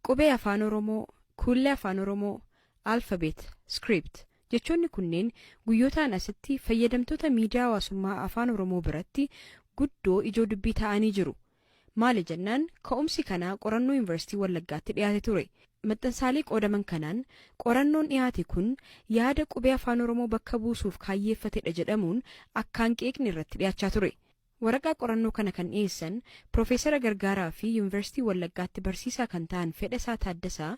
Qubee Afaan Oromoo, Kuullee Afaan Oromoo, Alphabet, Script jechoonni kunneen guyyootaan asitti fayyadamtoota miidiyaa hawaasummaa Afaan Oromoo biratti guddoo ijoo dubbii ta'anii jiru. Maali jennaan ka'umsi kanaa qorannoo Yuunivarsiitii Wallaggaatti dhiyaate ture. Maxxansaalee qoodaman kanaan qorannoon dhiyaate kun yaada qubee Afaan Oromoo bakka buusuuf kaayyeeffatedha jedhamuun akkaan qeeqni irratti dhiyaachaa ture. Waraqaa qorannoo kana kan dhiyeessan Piroofeesara Gargaaraa fi Yuunivarsiitii Wallaggaatti barsiisaa kan ta'an Fedhasaa Taaddasaa,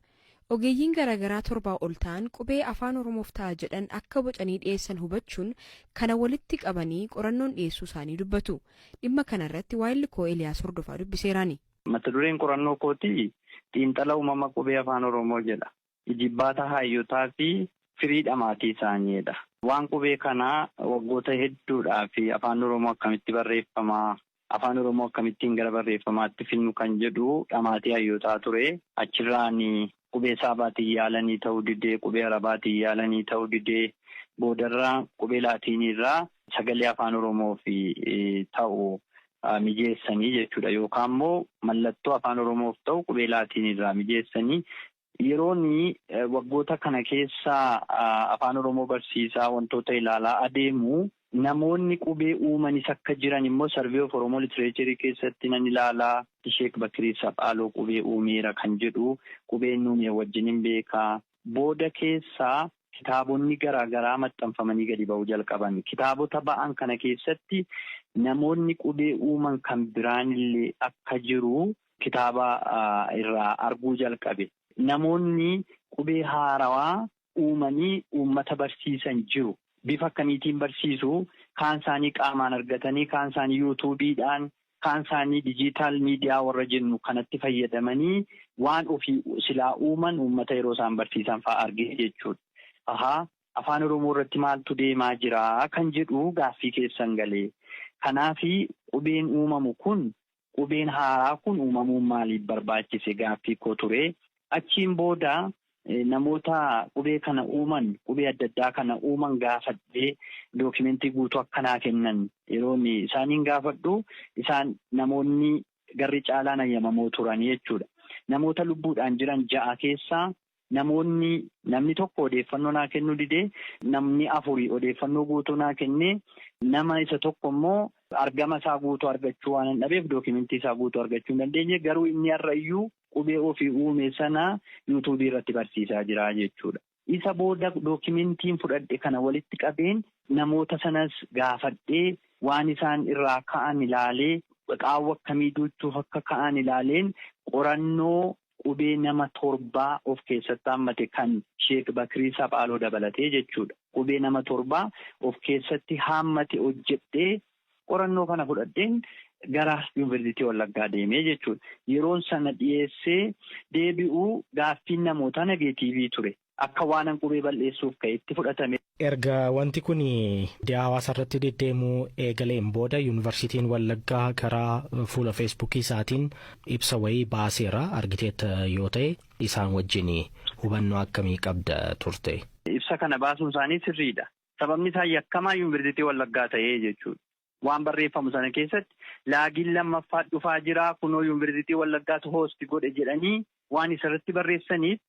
ogeeyyiin garaagaraa torbaa ol ta'an qubee Afaan Oromoof ta'a jedhan akka bocanii dhiyeessan hubachuun kana walitti qabanii qorannoon dhiyeessuu isaanii dubbatu. Dhimma kanarratti waahilli koo Eliyaas Hordofaa dubbiseeraani. Mata dureen qorannoo kootii Xiinxala Uumama Qubee Afaan Oromoo jedha. Ijibbaata haayyotaa fi firii dhamaatii isaanii dha. Waan qubee kanaa waggoota hedduudhaaf Afaan Oromoo akkamitti barreeffama, Afaan Oromoo akkamittiin gara barreeffamaatti fidnu kan jedhu dhamaatii hayyootaa ture. Achirraan qubee Saabaatiin yaalanii ta'uu didee, qubee Arabaatiin yaalanii ta'uu didee, boodarra qubee Laatiiniirraa sagalee Afaan Oromoof ta'u mijeessanii jechuudha. Yookaan immoo mallattoo Afaan Oromoof ta'u qubee Laatiiniirraa mijeessanii Yeroon waggoota kana keessa Afaan Oromoo barsiisaa wantoota ilaalaa adeemu namoonni qubee uumanis akka jiran immoo Survey of Oromo Literature keessatti nan ilaala. Sheek Bakrii Saphaaloo qubee uumeera kan jedhu qubee inni uumee wajjinin beeka. Booda keessa kitaabonni garaa garaa maxxanfamanii gadi ba'uu jalqaban. Kitaabota ba'an kana keessatti namoonni qubee uuman kan biraanillee akka jiru kitaaba irraa arguu jalqabe. Namoonni qubee haarawaa uumanii uummata barsiisan jiru. Bifa akkamiitiin barsiisu? Kaan isaanii qaamaan argatanii, kaan isaanii yuutuubiidhaan, kaan isaanii dijiitaal miidiyaa warra jennu kanatti fayyadamanii waan ofii silaa uuman uummata yeroo isaan barsiisan fa'a argee jechuudha. Ahaa, Afaan Oromoo irratti maaltu deemaa jira kan jedhu gaaffii keessan galee. Kanaaf qubeen uumamu kun Qubeen haaraa kun uumamuun maaliif barbaachise gaaffii koo ture. Achiin booda namoota qubee kana uuman, qubee adda addaa kana uuman gaafadhee dookimentii guutuu akka naa kennan yeroon isaaniin gaafadhu isaan namoonni garri caalaan hayyamamoo turani jechuudha. Namoota lubbuudhaan jiran ja'a keessaa Namoonni namni tokko odeeffannoo naa kennuu didee namni afuri odeeffannoo guutuu naa kennee nama isa tokko immoo argama isaa guutuu argachuu waanan dhabeef dookimentii isaa guutuu argachuu hin dandeenye garuu inni har'a iyyuu qubee ofii uume sana yuutuubii irratti barsiisaa jira jechuudha. Isa booda dookimentiin fudhadhe kana walitti qabeen namoota sanas gaafadhee waan isaan irraa ka'an ilaalee qaawwa akkamii duuchuuf akka ka'an ilaaleen qorannoo qubee nama torbaa of keessatti haammate kan Sheek Bakrii Saphaaloo dabalatee jechuudha. Qubee nama torbaa of keessatti haammate hojjedhee qorannoo kana fudhadheen gara Yuunvarsiitii Wallaggaa deeme jechuudha. Yeroon sana dhiyeessee deebi'u gaaffiin namootaa nageetiivii ture. akka waanan qubee bal'eessuuf ka'etti fudhatame. Erga wanti kun miidiyaa hawaasaa irratti deddeemuu eegaleen booda Yuunivarsiitiin Wallaggaa karaa fuula Feesbuukii isaatiin ibsa wayii baaseera. Argiteetta yoo ta'e isaan wajjin hubannoo akkamii qabda turte? Ibsa kana baasuun isaanii sirriidha. Sababni isaa yakkamaa Yuunivarsiitii Wallaggaa ta'ee jechuudha. Waan barreeffamu sana keessatti laagiin lammaffaa dhufaa jira, kunoo Yuunvarsiitii Wallaggaatu host godhe jedhanii waan isarratti barreessaniif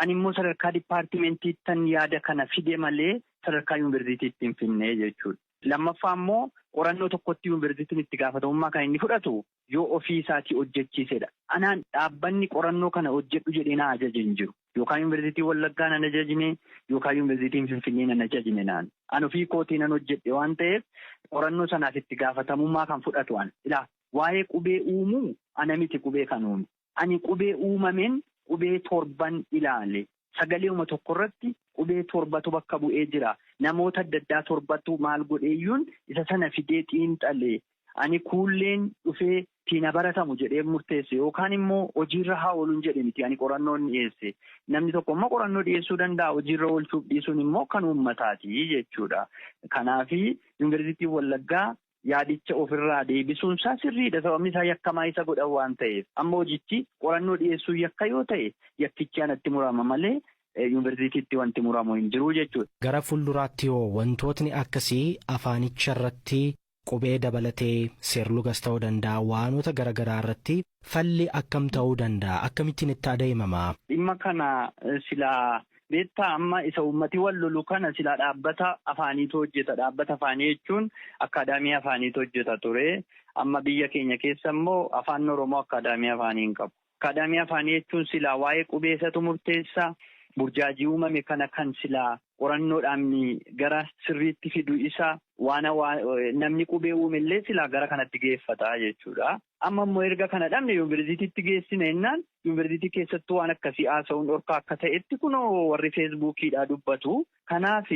animmoo sadarkaa dipaartimentiittan yaada kana fide malee sadarkaa Yuunvarsiitiitti hin fidne jechuudha. Lammaffaa immoo qorannoo tokkotti Yuunvarsiitiin itti gaafatamummaa kan inni fudhatu yoo ofii isaatii hojjechiise dha. Anaan dhaabbanni qorannoo kana hojjedhu jedhee na ajaje hin jiru. Yookaan Yuunivarsiitiin Wallaggaa nan ajajne, yookaan Yuunivarsiitiin Finfinnee nan ajajne naan. An ofii kootii nan hojjedhe waan ta'eef qorannoo sanaaf itti gaafatamummaa kan fudhatu ana. Ilaa, waa'ee qubee uumuu ana miti qubee kan uume. Ani qubee uumameen qubee torban ilaale. Sagaleeuma tokko irratti qubee torbatu bakka bu'ee jira. Namoota adda addaa torbatu maal godheeyyuun isa sana fidee xiinxale. Ani kuulleen dhufee siin ha baratamu jedheen murteesse yookaan immoo hojiirra haa oolun jedhe miti ani qorannoon dhiyeesse. Namni tokko immoo qorannoo dhiyeessuu danda'a, hojiirra oolchuuf dhiisuun immoo kan uummataati jechuudha. Kanaaf Yuunivarsiitiin Wallaggaa yaadicha ofirraa deebisuun isaa sirriidha sababni isaa yakkamaa isa godhan waan ta'eef. Amma hojichi qorannoo dhiyeessuun yakka yoo ta'e yakkichi anatti murama malee Yuunivarsiitiitti wanti muramu hin jiru jechuudha. Gara fuulduraatti hoo wantootni akkasii afaanicharratti qubee dabalatee seerlugas ta'uu danda'a waanota garagaraa irratti Falli akkam ta'uu danda'a? Akkamittiin itti adeemama? Dhimma kana silaa beektaa amma isa uummati wal lolu kana silaa dhaabbata afaaniitu hojjeta dhaabbata afaanii jechuun akkaadaamii afaaniitu hojjeta ture amma biyya keenya keessa immoo afaan oromoo akkaadaamii afaanii hin qabu akkaadaamii afaanii jechuun silaa waa'ee qubeesatu murteessa burjaajii uumame kana kan silaa qorannoodhaan gara sirriitti fidu isa waan namni qubee uume illee silaa gara kanatti geeffata jechuudha. Amma immoo erga kana dhabne yunverzitiitti geessina jennaan yunverzitii keessattuu waan akkasii haasa'uun dhorkaa akka ta'etti kunoo warri feesbuukiidhaa dubbatu. Kanaaf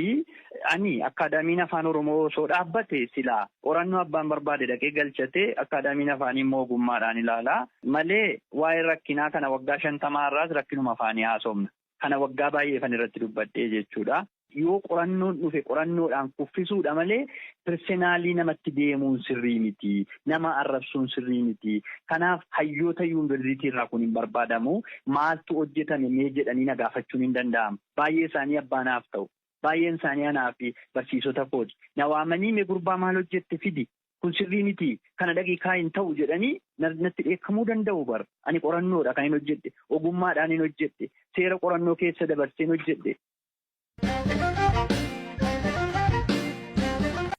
ani akkaadaamiin afaan oromoo osoo dhaabbate silaa qorannoo abbaan barbaade dhaqee galchatee akkaadaamiin afaanii immoo ogummaadhaan ilaala malee waa'ee rakkinaa kana waggaa shantamaa har'aas rakkinuma afaanii haasofna. Kana waggaa baay'eefan irratti dubbadhee jechuudha. Yoo qorannoon dhufe qorannoodhaan kuffisuudha malee pirsenaalii namatti deemuun sirrii miti. Nama arrabsuun sirrii miti. Kanaaf hayyoota yuunvarsiitii irraa kun hin barbaadamu. Maaltu hojjetame mee jedhanii na gaafachuun hin danda'amu. Baay'ee isaanii abbaa naaf ta'u. Baay'een isaanii anaa fi barsiisota kooti. Na waamanii mee gurbaa maal hojjette fidi kun sirrii miti kana dhaqii kaa'i hin ta'u jedhanii natti dheekkamuu danda'u bar ani qorannoodha kan hin hojjedhe ogummaadhaan hin hojjedhe seera qorannoo keessa dabarseen hojjedhe.